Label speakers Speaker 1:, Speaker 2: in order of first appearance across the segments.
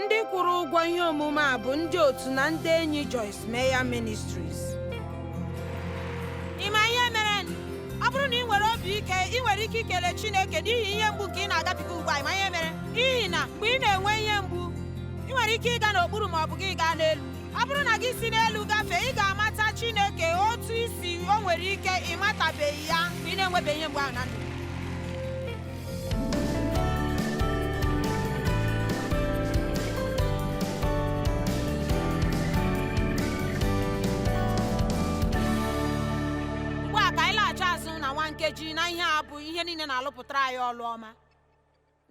Speaker 1: ndị kwụrụ ụgwọ ihe omume a bụ ndị otu na ndị enyi Joyce Meyer Ministries ị ma ihe mere ọ bụrụ na ị nwere obi ike ị nwere ike ikele Chineke n'ihi ihe mgbu nke ị na-agabiga ugbu a ị ma ihe mere n'ihi na mgbe ị na-enwe ihe mgbu ị nwere ike ịga n'okpuru ma ọ bụ gị gaa n'elu ọ bụrụ na gị si n'elu gafee ị ga-amata Chineke otu i si o nwere ike ị matabeghị ya mgbe ị na-enwebeghị ihe mgbu ahụ na ndụ nkeji na ihe a bụ ihe niile na-alụpụtara anyị ọlụ ọma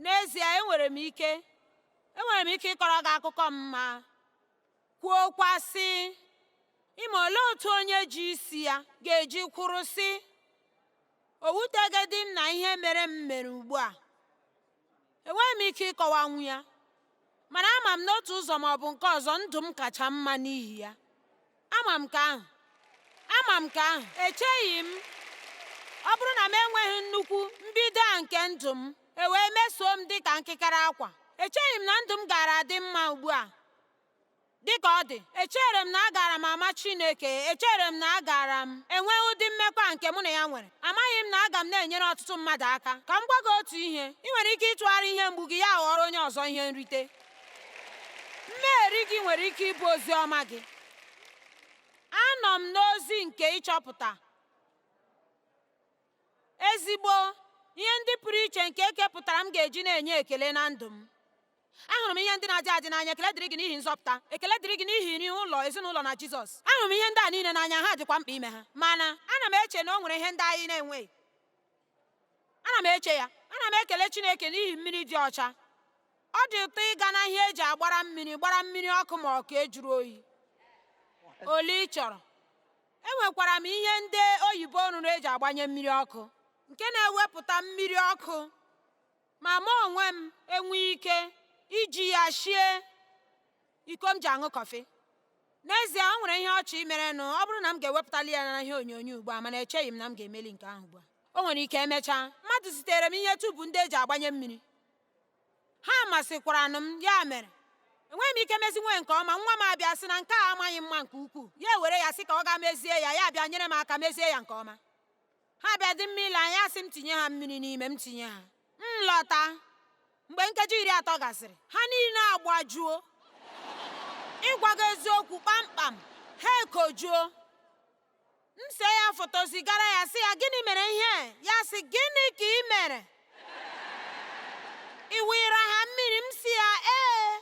Speaker 1: n'ezie enwere m ike enwere m ike ịkọrọ gị akụkọ m ma Kwuokwa, sị, Ị ma olee otu onye ji isi ya ga-eji kwụrụ sị, O wuteghịdị m na ihe mere m mere ugbu a. Enweghị m ike ịkọwanwu ya, mana ama m n'otu ụzọ ma ọ bụ nke ọzọ ndụ m kacha mma n'ihi ya. Ama m nke ahụ. Ama m nke ahụ. Echeghị m ọ bụrụ na m enweghị nnukwu mbido a nke ndụ m e wee mesoo m dị ka nkịkara akwa echeghị m na ndụ m gaara adị mma ugbu a Dịka ọ dị, echere m na agaara m ama Chineke, echere m na agaara m enwe ụdị mmekọ nke mụ na ya nwere. Amaghị m na aga m na-enyere ọtụtụ mmadụ aka. Ka m gwa gị otu ihe, ị nwere ike ịtụgharị ihe mgbu gị ya aghọọrọ onye ọzọ ihe nrite. Mmeri gị nwere ike ịbụ ozi ọma gị. Anọ m n'ozi nke ịchọpụta ezigbo ihe ndị pụrụ iche nke ekepụtara m ga-eji na-enye ekele na ndụ m. ahụrụ m ihe ndị na-adị adị n'anya ekele dịrị gị n'ihi nzọpụta ekele dịrị gị n'ihi nri ụlọ ezinụlọ na jizọs ahụrụ m ihe ndị a niile n'anya ha dịkwa mkpa ime ha mana ana m eche na o nwere ihe ndị anyị na-enweghị ana m eche ya ana m ekele chineke n'ihi mmiri dị ọcha ọ dị ụtọ ịga na ihe eji agbara mmiri gbara mmiri ọkụ ma ọ bụ nke juru oyi ole ị chọrọ enwekwara m ihe ndị oyibo rụrụ eji agbanye mmiri ọkụ nke na-ewepụta mmiri ọkụ ma mụ onwe m enwee ike iji ya shie iko m ji aṅụ kọfị n'ezie o nwere ihe ọchị merenụ ọ bụrụ na m ga-ewepụtali ya na ihe onyonyo ugbu a mana echeghị m na m ga-emeli nke ahụ ugbu a o nwere ike emechaa mmadụ zitere m ihe tubu ndị eji agbanye mmiri ha masịkwaranụ m ya mere enweghị m ike mezinwu ya nke ọma nwa m abịa sị na nke a amaghị mma nke ukwuu ya ewere ya sị ka ọ gaa mezie ya ya abịa nyere m aka mezie ya nke ọma ha bịa dị mma ile anya sị m tinye ha mmiri n'ime m tinye ha m lọta mgbe nkeji iri atọ gasịrị ha niile agbajuo ịgwa gị eziokwu kpamkpam ha ekojuo m see ya foto zigara ya sị ya gịnị mere ihe ya sị gịnị ka ị mere ị wụnyere ha mmiri m sị ya ee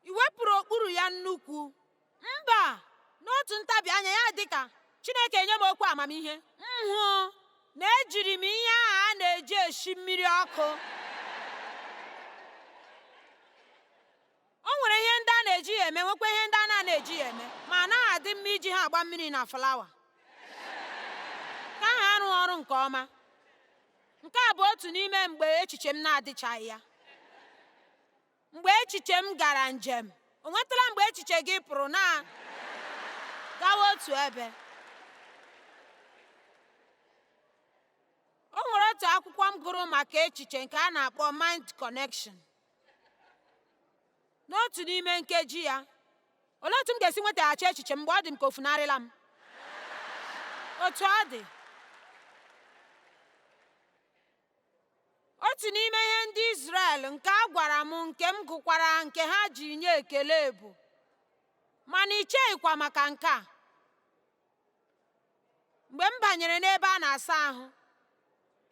Speaker 1: i wepụrụ okpuru ya nnukwu mba n'otu ntabi anya ya dị ka chineke enye m okwu amamihe m hụ na ejiri m ihe ahụ a na-eji eshi mmiri ọkụ o nwere ihe ndị a na-eji ya eme nwekwa ihe ndị a na-eji ya eme ma anaghị adị mma iji ha agba mmiri na flawa ka ha rụọ ọrụ nke ọma nke a bụ otu n'ime mgbe echiche m na-adịchaghị ya Mgbe echiche m gara njem, o nwetụla mgbe echiche gị pụrụ na gawa otu ebe? O nwere otu akwụkwọ m gụrụ maka echiche nke a na-akpọ Mind Connection. N'otu n'ime nkeji ya, olee otu m ga-esi nwetaghachi echiche m mgbe ọ dị m ka o funarịla m? Otu ọ dị, otu n'ime ihe ndị Izrel nke a gwara m nke m gụkwara nke ha ji nye ekele bụ mana i cheghịkwa maka nke a mgbe m banyere n'ebe a na-asa ahụ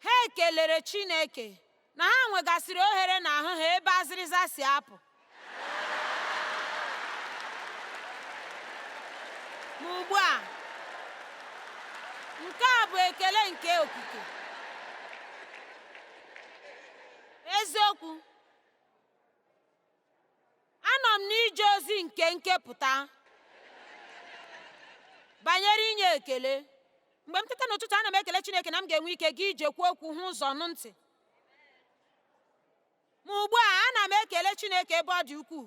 Speaker 1: ha ekelere Chineke na ha nwegasịrị ohere n'ahụ ha ebe azịrịza si apụ ma ugbu a nke a bụ ekele nke okike eziokwu anọ m n'ije ozi nke nkepụta banyere inye ekele mgbe m teta n'ụtụtụ ana m ekele Chineke na m ga-enwe ike gaa ije kwuo okwu hụ ụzọ nụ ntị Ma ugbu a ana m ekele Chineke ebe ọ dị ukwuu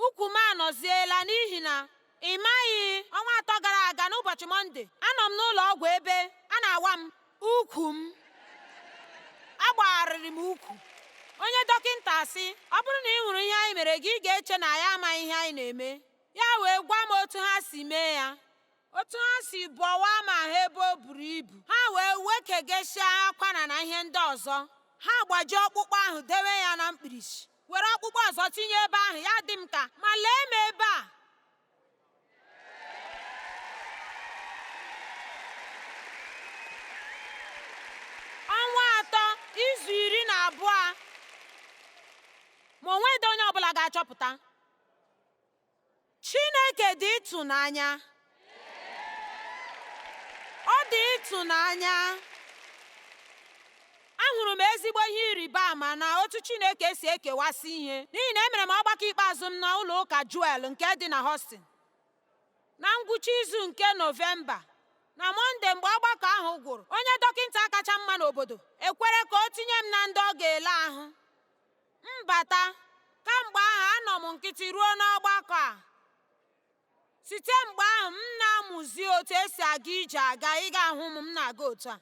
Speaker 1: ukwu m anọziela n'ihi na ị maghị ọnwa atọ gara aga n'ụbọchị mọnde anọ m n'ụlọ ọgwụ ebe a na-awa m ukwu m agbagharịrị m ukwu onye dọkịnta sị ọ bụrụ na ị hụrụ ihe anyị mere gị ị ga-eche na anyị amaghị ihe anyị na-eme ya wee gwa m otu ha si mee ya otu ha si bọwaa m ahụ ebe o buru ibu ha wee wekegesịa akwara na ihe ndị ọzọ ha gbajie ọkpụkpụ ahụ dewe ya na mkpirisi were ọkpụkpụ ọzọ tinye ebe ahụ ya dị m ka ma lee m ebe a ọnwa atọ izu iri na abụọ ma o nweghị onye ọbụla ga-achọpụta Chineke dị ịtụnanya. Ọ dị ịtụnanya. Ahụrụ m ezigbo ihe ịrịba ama na otu Chineke si ekewasị ihe n'ihi na emere m ọgbakọ ikpeazụ m na ụlọ ụka Joel nke dị na Houston na ngwụcha izu nke Nọvemba na Mọnde mgbe ọgbakọ ahụ gwụrụ onye dọkịnta kacha mma n'obodo ekwere ka o tinye m na ndị ọ ga-ele ahụ Mbata, kamgbe ahụ anọ m nkịtị ruo n'ọgbakọ a. Site mgbe ahụ m na-amụzi otu e si aga ije aga ị ga-ahụ m m na-aga otu a.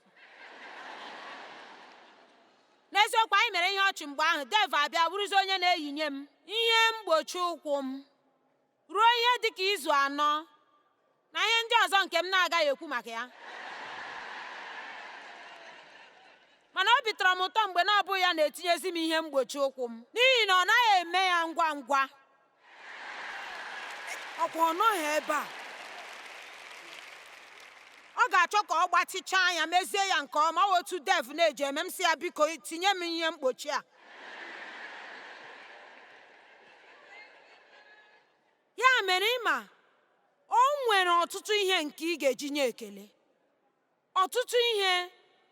Speaker 1: N'eziokwu anyị mere ihe ọchị mgbe ahụ Dave abịa bụrụzi onye na-eyinye m ihe mgbochi ụkwụ m. ruo ihe dị ka izu anọ na ihe ndị ọzọ nke m na-agaghị ekwu maka ya mana obi tọrọ m ụtọ mgbe na ọ bụghị ya na-etinyezi m ihe mgbochi ụkwụ m n'ihi na ọ naghị eme ya ngwa ngwa ọkwa ọ nọghị ebe a ọ ga-achọ ka ọ gbatịchaa anya mezie ya nke ọma otu Dave na-eji eme m sị ya biko tinye m ihe mgbochi a ya mere ị ma o nwere ọtụtụ ihe nke ị ga-eji nye ekele ọtụtụ ihe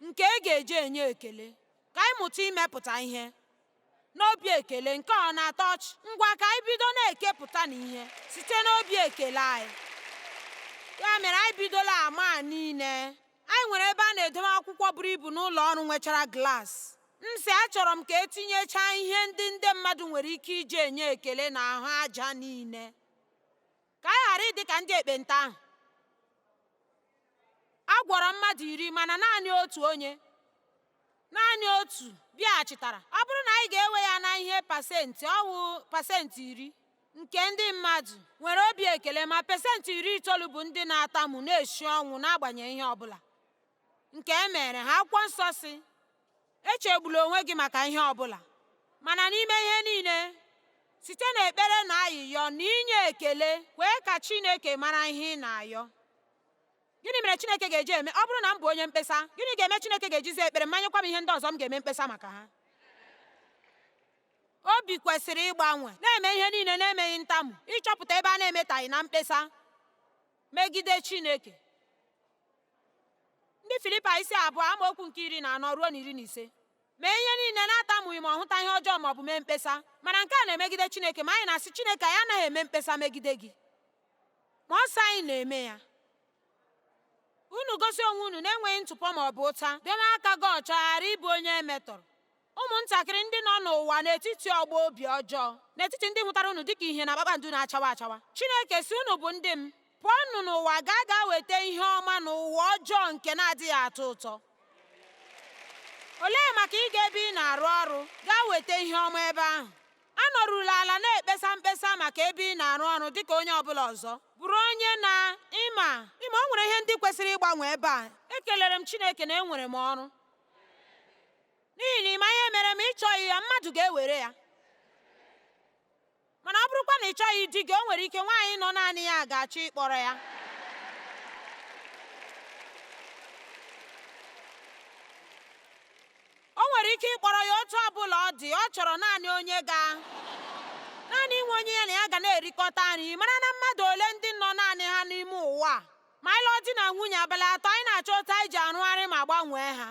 Speaker 1: nke ị ga-eji enye ekele ka anyị mụta imepụta ihe n'obi ekele nke ọ na-atọ ọchị ngwa ka anyị bido na-ekepụta na ihe site n'obi ekele anyị ya mere anyị bidola ama niile Anyị nwere ebe a na-edowe akwụkwọ buru ibu n'ụlọ ọrụ nwechara glaasị. M sị achọrọ m ka e tinyechaa ihe ndị ndị mmadụ nwere ike iji enye ekele n'ahụ aja niile, ka anyị ghara ịdị ka ndị ekpenta ahụ. A gwọrọ mmadụ iri mana naanị otu onye naanị otu bịaghachitara. Ọ bụrụ na anyị ga-ewe ya na ihe pasenti, ọ wụ pasenti iri. nke ndị mmadụ nwere obi ekele ma pesentị iri itoolu bụ ndị na-atamu na-esi ọnwụ n'agbanyeghị ihe ọ bụla nke e mere ha akwụkwọ nsọ sị echegbula onwe gị maka ihe ọ bụla mana n'ime ihe niile site n'ekpere na ayịyọ na inye ekele kwee ka Chineke mara ihe ị na-ayọ gịnị mere Chineke ga-eji eme ọ bụrụ na m bụ onye mkpesa gịnị ga-eme Chineke ga-eji za ekpere m ma nyekwa m ihe ndị ọzọ m ga-eme mkpesa maka ha Obi kwesịrị ịgbanwe, na-eme ihe niile na-emeghị ntamu ịchọpụta ebe a na-emetaghị na mkpesa megide Chineke. Ndị Filipaị isi abụọ amaokwu nke iri na anọ ruo na iri na ise mee ihe niile na-atamughị ma ọ hụta ihe ọjọọ ma ọ bụ mee mkpesa mana nke a na-emegide Chineke ma anyị na-asị Chineke anyị anaghị eme mkpesa megide gị ma ọ sị anyị na-eme ya unu gosi onwe unu na-enweghị ntụpọ ma ọ bụ ụta debe aka gị ọcha ghara ịbụ onye e metọrọ Ụmụntakịrị ndị nọ n'ụwa n'etiti ọgbọ obi ọjọọ, n'etiti ndị hụtara unu dịka ihe na kpakpando na-achawa achawa. Chineke sị unu bụ ndị m, pụọnụ n'ụwa gaa gaa weta ihe ọma n'ụwa ọjọọ nke na-adịghị atọ ụtọ. Olee maka ịga ebe ị na-arụ ọrụ gaa weta ihe ọma ebe ahụ? Anọrụla ala na-ekpesa mkpesa maka ebe ị na-arụ ọrụ dịka onye ọ bụla ọzọ. Bụrụ onye na ịma ịma o nwere ihe ndị kwesịrị ịgbanwe ebe a. Ekelere m Chineke na enwere m ọrụ. n'ihi na ịma ihe mere ma ị chọghị ya mmadụ ga-ewere ya mana ọ bụrụkwa na ị chọghị di gị o nwere ike nwaanyị nọ naanị ya ga-achọ ịkpọrọ ya o nwere ike ịkpọrọ ya otu ọ bụla ọ dị ọ chọrọ naanị onye ga naanị inwe onye ya na ya ga na-erikọta nri mara na mmadụ ole ndị nọ naanị ha n'ime ụwa ma anyị lụọ di na nwunye abalị atọ anyị na-achọ otu anyị ji arụgharị ma gbanwee ha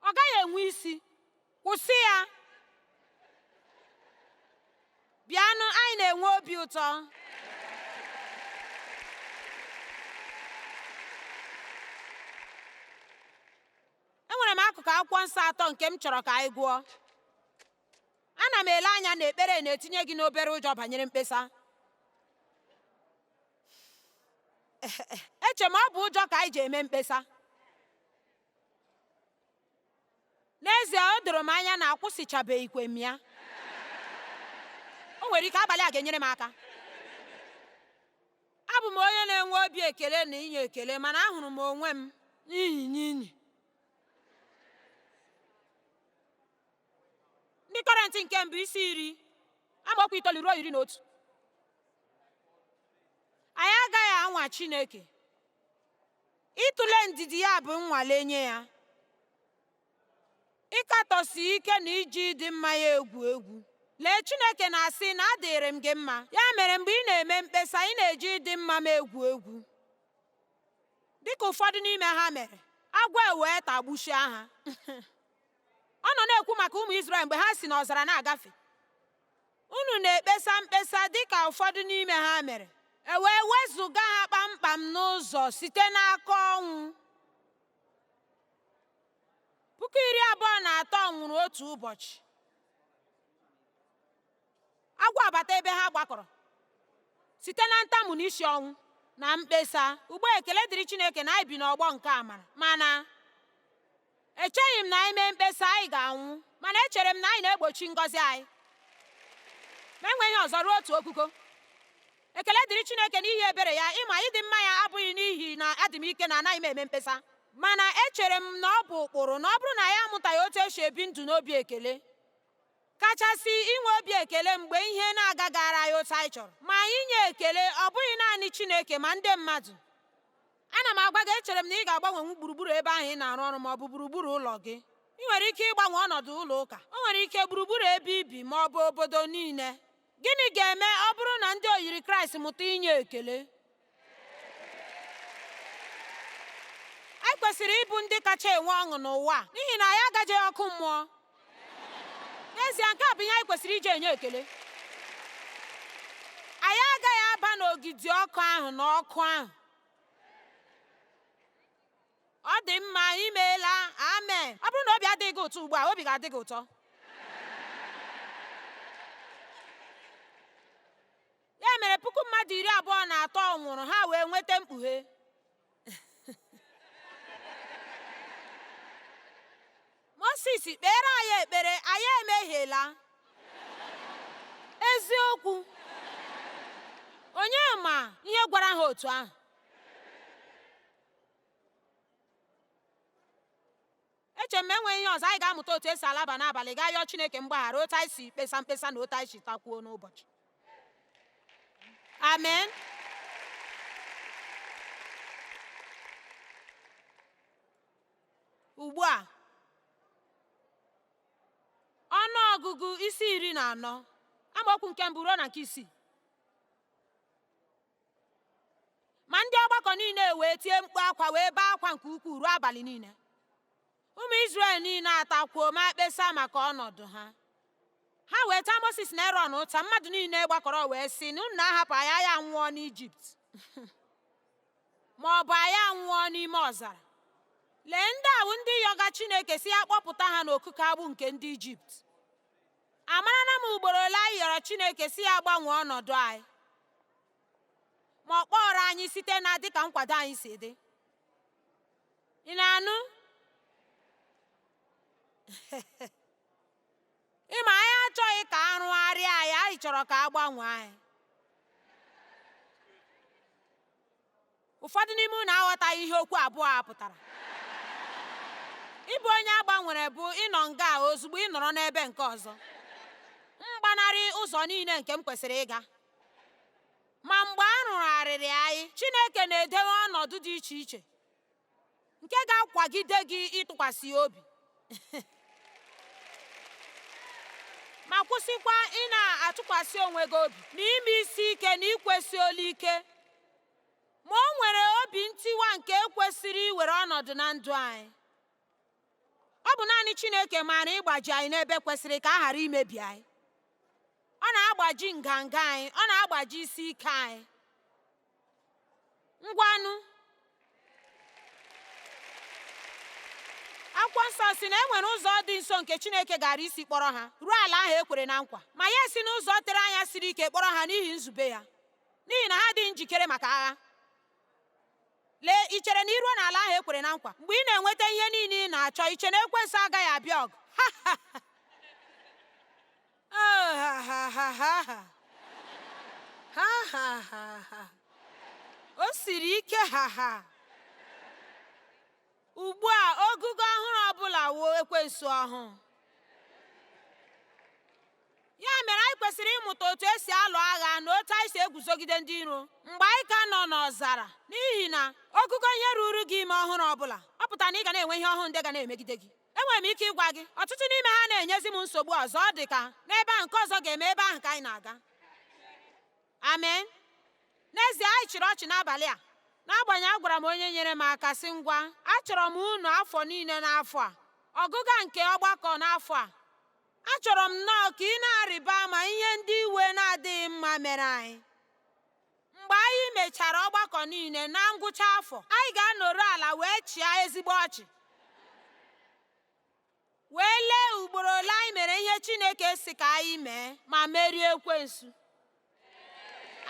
Speaker 1: ọ gaghị enwe isi kwụsị ya bịanụ anyị na-enwe obi ụtọ enwere m akụkụ akwụkwọ nsọ atọ nke m chọrọ ka anyị gụọ ana m ele anya na ekpere na-etinye gị n'obere ụjọ banyere mkpesa eche m ọ bụ ụjọ ka anyị ji eme mkpesa n'ezie o doro m anya na akwụsịchabeghịkwa m ya o nwere ike abalị a ga-enyere m aka abụ m onye na-enwe obi ekele na inye ekele mana ahụrụ m onwe m n'inyi n'inyi ndị kọrentị nke mbụ isi iri amaokwu itoolu ruo iri na otu anyị agaghị anwa chineke Ịtụle ndidi ya bụ nnwale nye ya. Ịkatọsi ike na iji ịdị mma ya egwu egwu. Lee, Chineke na-asị na adịrị m gị mma. Ya mere mgbe ị na-eme mkpesa, ị na-eji ịdị mma m egwu egwu. Dị ka ụfọdụ n'ime ha mere, agwọ ewee tagbuchia ha. Ọ nọ na-ekwu maka ụmụ Izrel mgbe ha si n'ọzara na-agafe. Unu na-ekpesa mkpesa dị ka ụfọdụ n'ime ha mere, e wee wezụga ha kpamkpam n'ụzọ site n'aka ọnwụ. Puku iri abụọ na atọ nwụrụ otu ụbọchị. Agwọ abata ebe ha gbakọrọ site na ntamu na isi ọnwụ na mkpesa. Ugbu a ekele dịrị Chineke na anyị bi n'ọgbọ nke amara, mana Echeghị m na anyị mee mkpesa, anyị ga-anwụ, mana echere m na anyị na-egbochi ngọzi anyị ma enweghị ihe ọzọ ruo otu ogogo. Ekele dịrị Chineke n'ihi ebere ya, ịma na ịdị mma ya ọ bụghị n'ihi na adị m ike na anaghị m eme mkpesa. Mana echere m na ọ bụ ụkpụrụ na ọ bụrụ na anyị amụtaghị otu esi ebi ndụ n'obi ekele, kachasị inwe obi ekele mgbe ihe na-agagaara anyị otu anyị chọrọ, ma anyị nye ekele ọ bụghị naanị Chineke ma ndị mmadụ. Ana m agwa gị, echere m na ị ga-agbanwenwu gburugburu ebe ahụ ị na-arụ ọrụ ma ọ bụ gburugburu ụlọ gị. Ị nwere ike ịgbanwe ọnọdụ ụlọ ụka, o nwere ike gburugburu ebe ibi ma ọ bụ obodo niile. Gịnị ga-eme ọ bụrụ na ndị oyiri Kraịst mụta inye ekele? Anyị kwesịrị ịbụ ndị kacha enwe ọṅụ n'ụwa n'ihi na anyị agaghị eje ọkụ mmụọ. N'ezie, nke a bụ ihe anyị kwesịrị iji enye ekele. Anyị agaghị aba n'ogidi ọkụ ahụ na ọkụ ahụ. ọ dị mma imeela amen ọ bụrụ na obi adịghị gị ụtọ ugbu a obi ga-adị gị ụtọ ya mere puku mmadụ iri abụọ na atọ nwụrụ ha wee nweta mkpughe Mosis kpeere anyị ekpere anyị emehiela eziokwu onye ma ihe gwara ha otu ahụ eche m ma enweghị ihe ọzọ anyị ga-amụta otu esi alaba n'abalị gaa yọọ Chineke mgbaghara otu anyị si kpesa mkpesa na otu anyị si takwuo n'ụbọchị amen Ugbu a, ọnụ ọgụgụ isi iri na anọ amaokwu nke mbụ ruo na nke isii ma ndị ọgbakọ niile wee tie mkpu akwa wee bee akwa nke ukwuu ruo abalị niile ụmụ Izrel niile atakwuo ma kpesa maka ọnọdụ ha ha wee taa Mosis na Erọn ụta mmadụ niile gbakọrọ wee sị na unu na-ahapụ anyị anyị anwụọ n'Ijipt ma ọ bụ anyị anwụọ n'ime ọzara lee ndị a wụ ndị yọga chineke sị ya kpọpụta ha n'okike agbụ nke ndị ijipt amarala m ugboro ole anyị yọrọ chineke sị ya gbanwee ọnọdụ anyị ma ọ kpọọrọ anyị site na dịka nkwado anyị si dị ị na-anụ ịma anyị achọghị ka a rụgharịa anyị anyị chọrọ ka a gbanwee anyị ụfọdụ n'ime unu aghọtaghị ihe okwu abụọ a pụtara ịbụ onye a gbanwere bụ ịnọ nga a ozugbo ị nọrọ n'ebe nke ọzọ m gbanarị ụzọ niile nke m kwesịrị ịga ma mgbe a rụgharịrị anyị Chineke na-edewe ọnọdụ dị iche iche nke ga-akwagide gị ịtụkwasị obi ma kwụsịkwa ị na-atụkwasị onwe gị obi na ime isi ike na ikwesi olu ike ma o nwere obi ntiwa nke kwesịrị iwere ọnọdụ na ndụ anyị ọ bụ naanị Chineke maara ịgbaji anyị n'ebe kwesịrị ka a ghara imebi anyị ọ na-agbaji nganga anyị ọ na-agbaji isi ike anyị ngwanụ akwụkwọ nsọ sị na e nwere ụzọ dị nso nke chineke gaara isi kpọrọ ha ruo ala ahụ e kwere na nkwa ma ya si n'ụzọ tere anya siri ike kpọrọ ha n'ihi nzube ya n'ihi na ha adịghị njikere maka agha lee i chere na i ruo n'ala ahụ e kwere na nkwa mgbe ị na-enweta ihe niile ị na-achọ i che na ekwensu agaghị abịa ọgụ o siri ike ha ha ugbu a ogugo ọhụrụ ọbụla wụ ekwensu ọhụụ ya mere anyị kwesịrị ịmụta otu e si alụ agha na otu anyị si eguzogide ndị iro mgbe anyị ka nọ n'ọzara n'ihi na ogugo ihe ruru gị ime ọhụrụ ọbụla ọ pụtara na ị ga na-enwe ihe ọhụrụ ndị ga na-emegide gị enwere m ike ịgwa gị ọtụtụ n'ime ha anaghị enyezi m nsogbu ọzọ ọ dị ka n'ebe ahụ nke ọzọ ga-eme ebe ahụ ka anyị na-aga amen n'ezie anyị chịrị ọchị n'abalị a n'agbanyeghị agwara m onye nyere m aka sị ngwa achọrọ m unu afọ niile n'afọ a ọgụga nke ọgbakọ n'afọ a achọrọ m nnọọ ka ị na-arịba ama ihe ndị iwe na-adịghị mma mere anyị Mgbe anyị mechara ọgbakọ niile na ngwụcha afọ, anyị ga-anọrọ ala wee chịa ezigbo ọchị wee lee ugboro ole anyị mere ihe Chineke sị ka anyị mee ma merie ekwensu.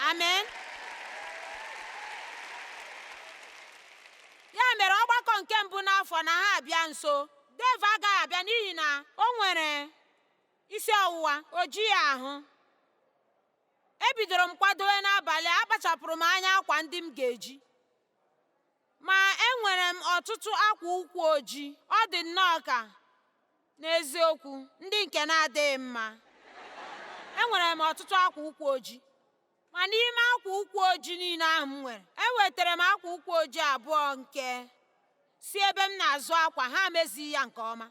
Speaker 1: Amen. ya mere ọgbakọ nke mbụ n'afọ na-abịa nso Dave agaghị abịa n'ihi na o nwere isi ọwụwa o jighị ahụ ebidoro m kwadowe n'abalị a akpachapụrụ m anya akwa ndị m ga-eji ma enwere m ọtụtụ akwa ụkwụ ojii ọ dị nnọọ ka n'eziokwu ndị nke na-adịghị mma enwere m ọtụtụ akwa ụkwụ ojii ma n'ime akwa ụkwụ ojii niile ahụ m nwere ewetara m akwa ụkwụ ojii abụọ nke si ebe m na-azụ akwa ha emezighị ya nke ọma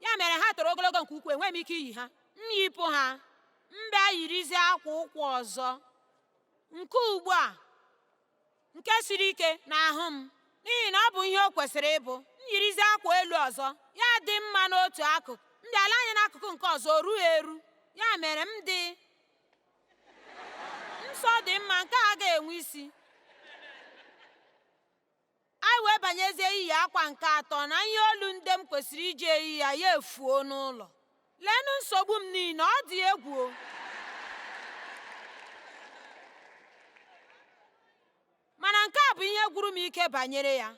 Speaker 1: ya mere ha toro ogologo nke ukwuu enweghị m ike iyi ha m yipụ ha m bịa yirizie akwa ụkwụ ọzọ nke ugbu a nke siri ike n'ahụ m n'ihi na ọ bụ ihe o kwesịrị ịbụ m yirizie akwa elu ọzọ ya dị mma n'otu akụkụ m bịa lee anya n'akụkụ nke ọzọ o rughị eru ya mere m ji sị ọ dị mma nke a ga-enwe isi Anyị wee banyezie iyi akwa nke atọ na ihe olu ndị m kwesịrị iji eyi ya ya efuo n'ụlọ. Leenụ nsogbu m niile, ọ dị egwu! Mana nke a bụ ihe gwụrụ m ike banyere ya.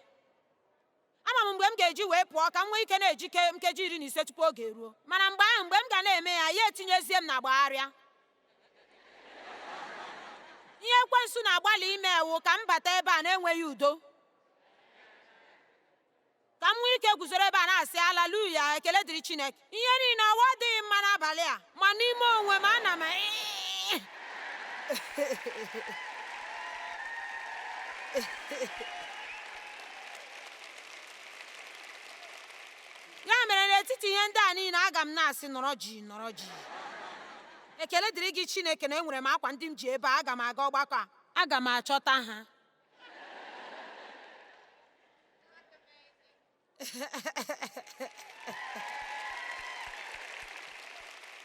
Speaker 1: Ama m mgbe m ga-eji wee pụọ ka m nwee ike na-ejike nkeji iri na ise tupu oge eruo. Mana mgbe ahụ, mgbe m ga na-eme ya, ya etinyezie m na gbagharịa. ihe ekwensu na-agbalị ime wụ ka m bata ebe a na-enweghị udo ka m nwee ike guzoro ebe a na-asị alaluya ekele dịrị chineke ihe niile ọwa adịghị mma n'abalị a ma n'ime onwe m ana m ya mere n'etiti ihe ndị a niile aga m na-asị nọrọ jii nọrọ jii ekele dịrị gị chineke na enwere m akwa ndị m ji ebe a aga m aga ọgbakọ a aga m achọta ha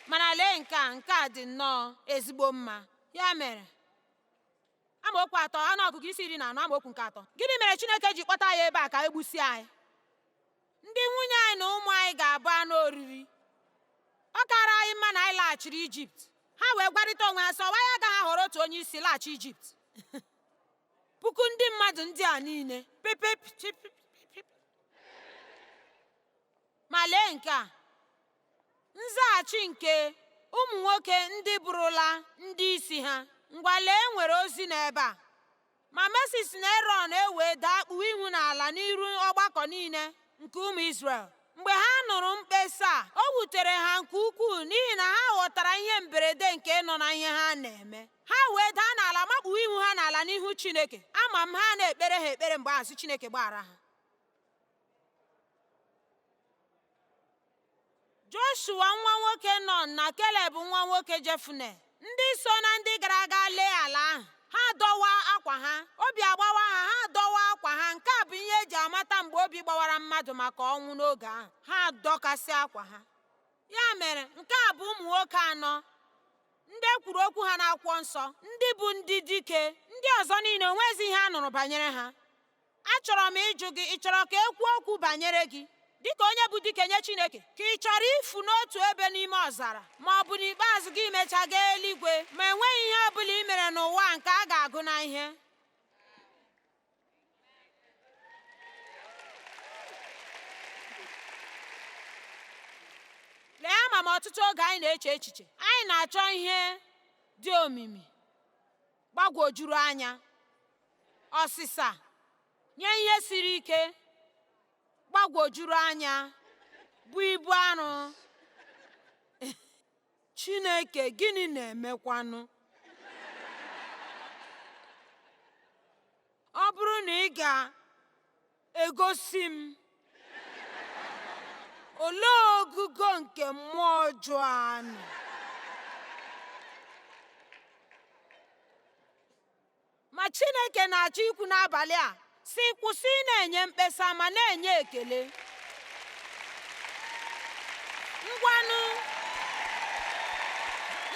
Speaker 1: mana lee nke a nke a dị nnọọ ezigbo mma ya mere amaokwu atọ ọnụọgụgụ isi iri na anọ amaokwu nke atọ gịnị mere Chineke ji kpọta anyị ebe a ka e gbusie anyị ndị nwunye anyị na ụmụ anyị ga-abụ anụ oriri ọ kaara anyị mma na anyị laghachiri Ijipt ha wee gwarịta onwe ha sị ọ wụ anyị agaghị ahọrọ otu onye isi laghachi Ijipt puku ndị mmadụ ndị a niile ma lee nke a Nzaghachi nke ụmụ nwoke ndị bụrụla ndị isi ha. Ngwa lee e nwere ozi n'ebe a. Ma Mosis na Erọn ewee daa kpuo ihu n'ala n'iru ọgbakọ niile nke ụmụ Izrel. Mgbe ha nụrụ mkpesa a, o wutere ha nke ukwuu n'ihi na ha ghọtara ihe mberede nke nọ na ihe ha na-eme. Ha wee daa n'ala makpuo ihu ha n'ala n'ihu Chineke. Ama m ha na-ekpere ha ekpere mgbe ahụ sị Chineke gbaghara ha. Joshua nwa nwoke Nọn na Keleb nwa nwoke Jefune ndị so na ndị gara aga lee ala ahụ ha dọwaa akwa ha obi agbawa ha ha adọwaa akwa ha nke a bụ ihe e ji amata mgbe obi gbawara mmadụ maka ọnwụ n'oge ahụ ha adọkasị akwa ha ya mere nke a bụ ụmụ nwoke anọ ndị e kwuru okwu ha n'akwụkwọ nsọ ndị bụ ndị dike ndị ọzọ niile o nwezi ihe a nụrụ banyere ha Achọrọ m ịjụ gị, ị chọrọ ka e kwuo okwu banyere gị dịka onye bụ dike nye Chineke? Ka ị chọrọ ifu n'otu ebe n'ime ọzara ma ọ bụ n'ikpeazụ gị imecha gaa eluigwe ma enweghị ihe ọ bụla i mere n'ụwa nke a ga-agụ na ihe? Lee ama m ọtụtụ oge anyị na-eche echiche, anyị na-achọ ihe dị omimi. gbagwojuru anya ọsịsa nye ihe siri ike gbagwojuru anya bụ ibu arụ Chineke gịnị na-emekwanụ ọ bụrụ na ị ga Egosi m. Olee ogogo nke mmụọ ọjọọ a nọ? Ma Chineke na-achọ ikwu n'abalị a sị kwụsị ị na-enye mkpesa ma na-enye ekele. Ngwanụ,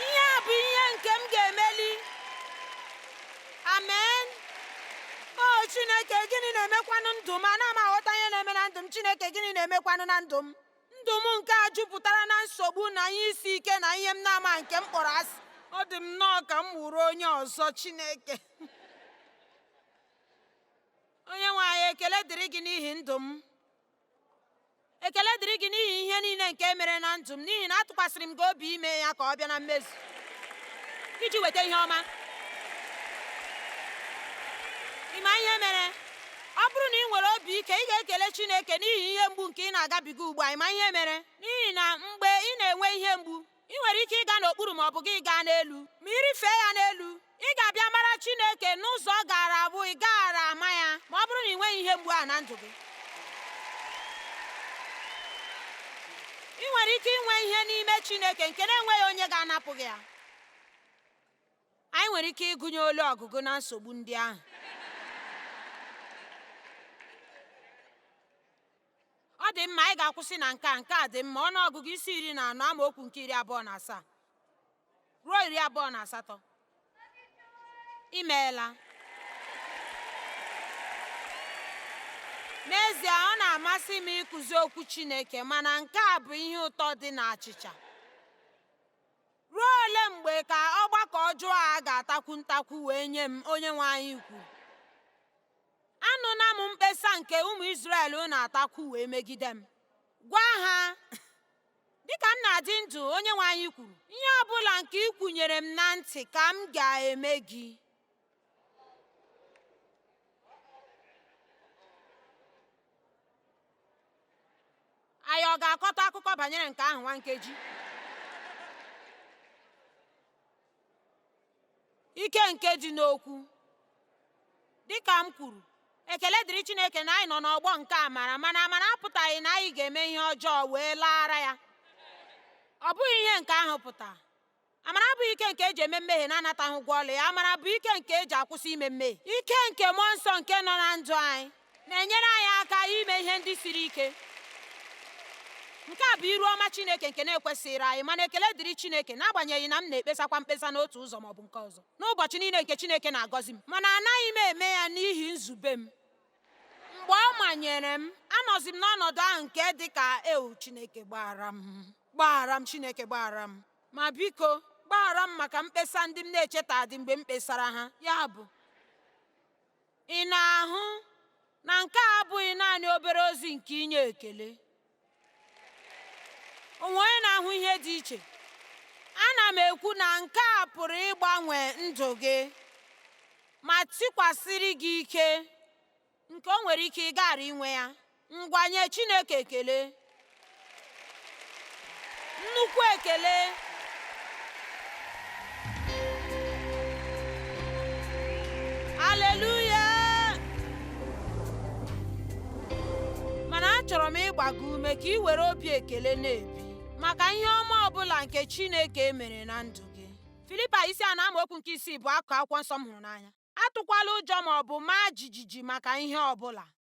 Speaker 1: ihe a bụ ihe nke m ga-emeli. amen o chineke gịnị na-emekwanụ ndụ m ana m aghọta ihe na-eme na ndụ m chineke gịnị na-emekwanụ na ndụ m ndụ m nke a jupụtara na nsogbu na ihe isi ike na ihe m na-ama nke m kpọrọ asị ọ dị m nnọọ ka m wụrụ onye ọzọ chineke onye nwe anyị ekele dịrị gị n'ihi ndụ m ekele dịrị gị n'ihi ihe niile nke mere na ndụ m n'ihi na atụkwasịrị m gị obi ime ya ka ọ bịa na mmezu iji weta ihe ọma ị ma ihe mere ọ bụrụ na ị nwere obi ike ị ga-ekele Chineke n'ihi ihe mgbu nke ị na-agabiga ugbu a ị ma ihe mere n'ihi na mgbe ị na-enwe ihe mgbu Ị nwere ike ịga n'okpuru ma ọ bụ gị gaa n'elu. Ma ị rịfee ya n'elu, ị ga-abịa mara Chineke n'ụzọ ọ gaara abụ ị gaghara ama ya ma ọ bụrụ na ị nweghị ihe mgbu ahụ na ndụ gị. Ị nwere ike inwe ihe n'ime Chineke nke na-enweghị onye ga-anapụ gị ya. Anyị nwere ike ịgụnye ọnụ ọgụgụ na nsogbu ndị ahụ. ọ dị mma anyị ga-akwụsị na nke a nke a dị mma ọnụ ọgụgụ isi iri na anọ amaokwu nke iri abụọ na asaa ruo iri abụọ na asatọ imeela n'ezie ọ na-amasị m ịkụzi okwu Chineke mana nke a bụ ihe ụtọ dị na achịcha ruo ole mgbe ka ọgbakọ ọjọọ a ga-atakwu ntakwu wee nye m onye nwe anyị kwuru Anụla m mkpesa nke ụmụ Izrel na-atakwu wee megide m. Gwa ha, dịka m na-adị ndụ onye nwe anyị kwuru, ihe ọ bụla nke ị kwunyere m na ntị ka m ga-eme gị. Anyị ọ ga-akọta akụkọ banyere nke ahụ nwa nkeji? ike nke dị n'okwu dịka m kwuru ekele dịrị chineke na anyị nọ n'ọgbọ nke amara mana amara apụtaghị na anyị ga-eme ihe ọjọọ wee laara ya ọ bụghị ihe nke ahụ pụtara amara abụghị ike nke eji eme mmehie na-anataghị ụgwọ ọlụ ya amara bụ ike nke eji akwụsị ime mmehie ike nke mmụọ nsọ nke nọ na ndụ anyị na-enyere anyị aka ime ihe ndị siri ike nke a bụ iru ọma Chineke nke na-ekwesịghị anyị mana ekele dịrị Chineke n'agbanyeghị na m na-ekpesakwa mkpesa n'otu ụzọ maọbụ nke ọzọ n'ụbọchị niile nke Chineke na-agọzi m mana anaghị m eme ya n'ihi nzube m mgbe ọ manyere m anọzi m n'ọnọdụ ahụ nke dị ka ewuu Chineke gbaghara m gbaghara m Chineke gbaghara m ma biko gbaghara m maka mkpesa ndị m na-echetadị mgbe m kpesara ha ya bụ Ị na-ahụ na nke a abụghị naanị obere ozi nke inye ekele? O nwere onye na-ahụ ihe dị iche. Ana m ekwu na nke a pụrụ ịgbanwe ndụ gị ma tikwasịrị gị ike nke o nwere ike ịghara inwe ya ngwa nye Chineke ekele nnukwu ekele aleluya mana achọrọ m ịgba gị ume ka ị were obi ekele na-ebi maka ihe ọma ọbụla nke Chineke mere na ndụ gị Filipaị isi anọ amaokwu nke isii bụ akụkụ akwụkwọ nsọ m hụrụ n'anya atụkwala ụjọ ma ọ bụ maa jijiji maka ihe ọbụla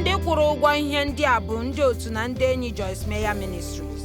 Speaker 1: ndị kwụrụ ụgwọ ihe ndị a bụ ndị otu na ndị enyi Joyce Meyer Ministries